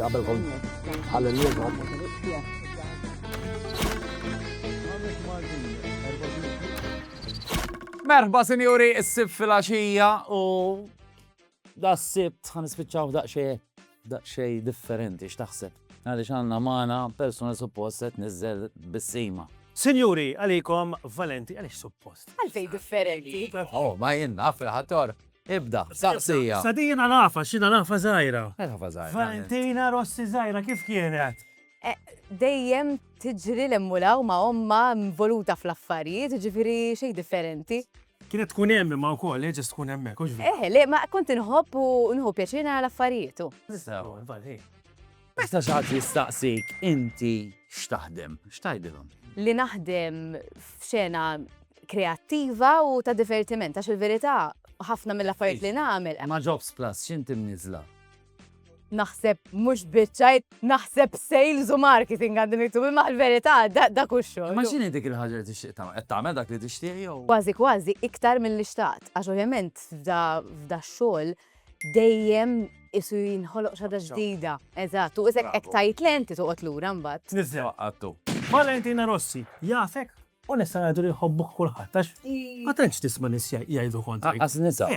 Qabel kont għal-lum Merħba, sinjuri, s-sib fil-axija u da s-sibt, għan ispiċaw daqxie. Daqsxejn differenti x'taħseb? Għaliex għandna magħna persuna li suppost se tniżżel bis-sima. Sinjuri, għalikom Valenti għaliex suppost. Għalfejn differenti? Oh, ma jien naf il-ħator. Ibda, saqsija. Sa din jiena nafha, x'jiena nafha żgħira. Nafha żgħira. Valentina Rossi żgħira kif kienet? Dejjem tiġri 'l hemm u 'l hawn ma' ommha involuta fl-affarijiet, jiġifieri xejn differenti. Kienet tkun hemm imma wkoll, hi ġust tkun hemmhekk, hux veru? Eħe, le, ma kont inħobb u nieħu pjaċir nara l-affarijiet u. Tista', u infatti hi. Meta xi ħadd jistaqsik inti x'taħdem, x'tgħidilhom? Li naħdem f'xena kreattiva u ta' divertiment għax il-verità ħafna mill-affarijiet li nagħmel. Ma' Jobs Plus x'inti mniżżla? naħseb mhux biċċajt, naħseb sales u marketing għandi miktub, imma l-verità da kuxxu. Ma x'inhi dik il-ħaġa li tixtieq tagħmel? Qed tagħmel dak li tixtieq jew? Kważi kważi iktar mill-li xtaqt, għax ovvjament f'da xogħol dejjem isu jinħoloq xaġa ġdida. Eżatt, u isek hekk tajt lenti toqgħod lura mbagħad. Nizzew qaqqattu. Valentina Rossi, jafek? U nistgħu ngħidu li jħobbuk kulħadd għax ma tantx tisma' nies jgħidu kontri. Għaqqas niża.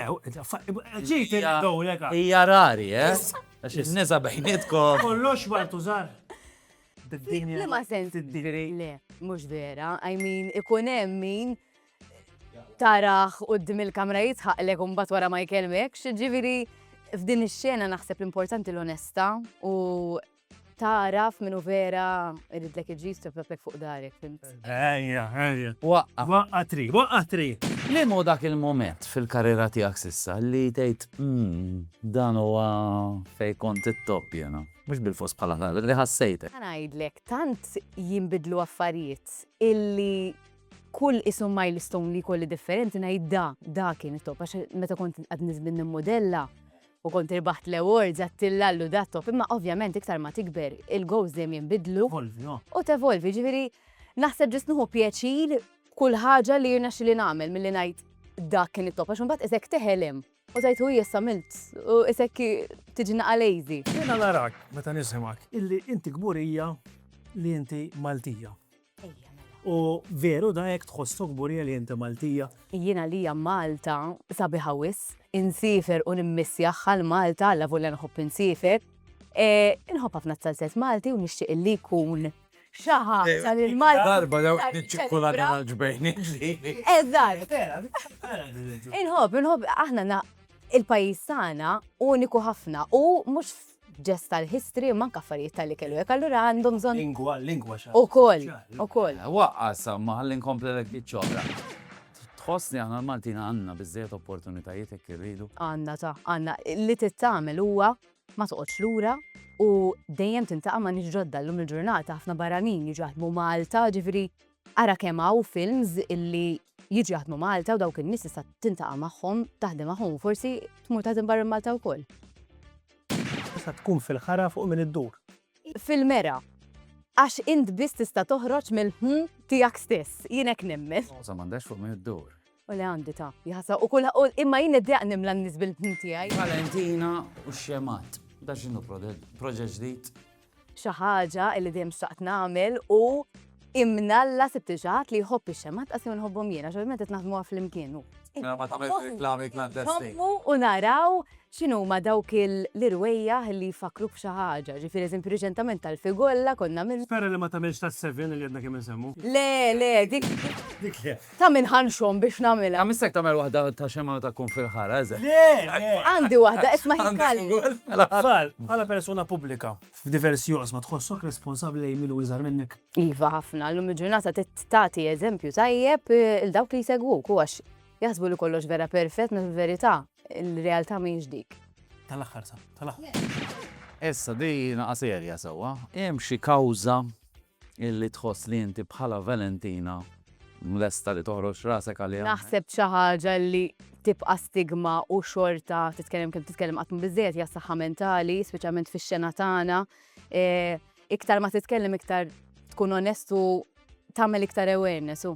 Ġejt il-dowlek. Hija rari, eh? Għax in-niża bejnietkom. Kollox wartu żgħar. Bid-dinja. Li ma sens. Le, mhux vera. I mean, ikun hemm min taraħ qudiem il-kamra jitħaqlek u mbagħad wara ma jkellmekx, ġifieri f'din ix-xena naħseb l-importanti l-onesta u Tagħraf minnu vera iridlek il-ġid tibgħatlek fuq darek, fimt? Ejja, ejja. Waqqa. Waqqa tri, waqqa tri. Liem hu dak il-mument fil-karriera tiegħek s'issa li tgħid, dan huwa fejn kont it-top jiena? Mhux bilfors bħala talent, li ħassejtek. Ħa ngħidlek, tant jinbidlu affarijiet illi kull qisu milestone li jkolli differenti ngħid da, da kien it-top għax meta kont għadni żmien nimmodella, u kont irbaħt l-awards għat-tilla għal Ludatov imma ovvjament iktar ma tikber il-goals dejjem jinbidlu u tevolvi ġifieri naħseb ġust nieħu pjaċir kull ħaġa li jirnexxili nagħmel milli ngħid dak kien it-top għax imbagħad isek teħelem u tajt u issa milt u isek tiġi naqa' lazy. Jiena narak meta nisimgħek illi inti kburija li inti Maltija. U veru da jekk tħossu kburija li inti Maltija. Jiena għalija Malta sabiħa wisq, insiefer u nimmissjah għal Malta alla volja nħobb insiefer. Inħobb ħafna t-salzett Malti u nixtieq li jkun xi ħaġa li l-Malti. Darba dawk iċ-ċikkulata tal-ġbejn ġieli. Eżatt. Inħobb, inħobb aħna il-pajjiż tagħna uniku ħafna u mhux ġest tal-history imma anke affarijiet tal-ikel u hekk allura għandhom bżonn. Lingwa, lingwa xi ħaġa. Ukoll, ukoll. Waqqas hawn ma ħalli nkompli ċ-ċokla. Tħoss li aħna l-Maltin għandna biżżejjed opportunitajiet hekk irridu? Għandna ta', għandna. Li trid tagħmel huwa ma toqgħodx lura u dejjem tintaqa' ma' nies ġodda. Llum il-ġurnata ħafna barranin jiġu jaħdmu Malta, ġifieri Ara kemm hawn films illi jiġu jaħdmu Malta u dawk in-nies tista' tintaqa' magħhom, taħdem magħhom u forsi tmur taħdem barra Malta wkoll. Tista' tkun fil-ħara fuq min iddur. Fil-mera. Għax int biss tista' toħroġ mill-ħmmm tiegħek stess. Jien hekk nemmen. Roża m'għandhax fuq min iddur. U le għandi ta' jħasa u kull imma jien id-deq nimla n-nis bil-ħin tiegħi. Valentina u xemat. Da xinu proġett ġdid? Xi ħaġa li dejjem xtaqt nagħmel u imnalla sibt ġaħat li jħobb ix-xemat qasem nħobbhom jiena, xogħol meta naħdmuha flimkien. Mela ma tagħmilx reklami klandestin. Nħobbu u naraw x'inhuma dawk l-irwejjaħ li jfakkruk f'xi ħaġa. Ġifieri eżempju riċentament tal-figolla konna minn. Spera li ma tagħmilx tas-seven li għedna kemm insemmu. Le, le, dik. Dik le. Ta' min ħa nxomm biex nagħmilha. Għam istek tagħmel waħda ta' xemgħa meta tkun fil-ħara, eżatt. Le, le. Għandi waħda, isma' hi Kalli. Tfal, bħala persuna pubblika, f'diversi oqsma tħossok responsabbli lejn min hu iżgħar minnek? Iva, ħafna. Llum il-ġurnata trid tagħti eżempju tajjeb 'l dawk li jsegwuk u għax jaħsbu li kollox vera perfett meta fil-verità l-realtà mhijiex dik. Tal-aħħar sa, tal-aħħar. Issa, din hi serja sewwa. Hemm xi kawża? Illi tħoss li inti bħala Valentina lesta li toħroġ rasek għaliha. Naħseb xi ħaġa li tibqa' stigma u xorta titkellem kemm titkellem qatt biżżejjed hija saħħa mentali, speċjalment fix-xena tagħna. E, iktar ma titkellem iktar tkun onestu tagħmel iktar awareness u.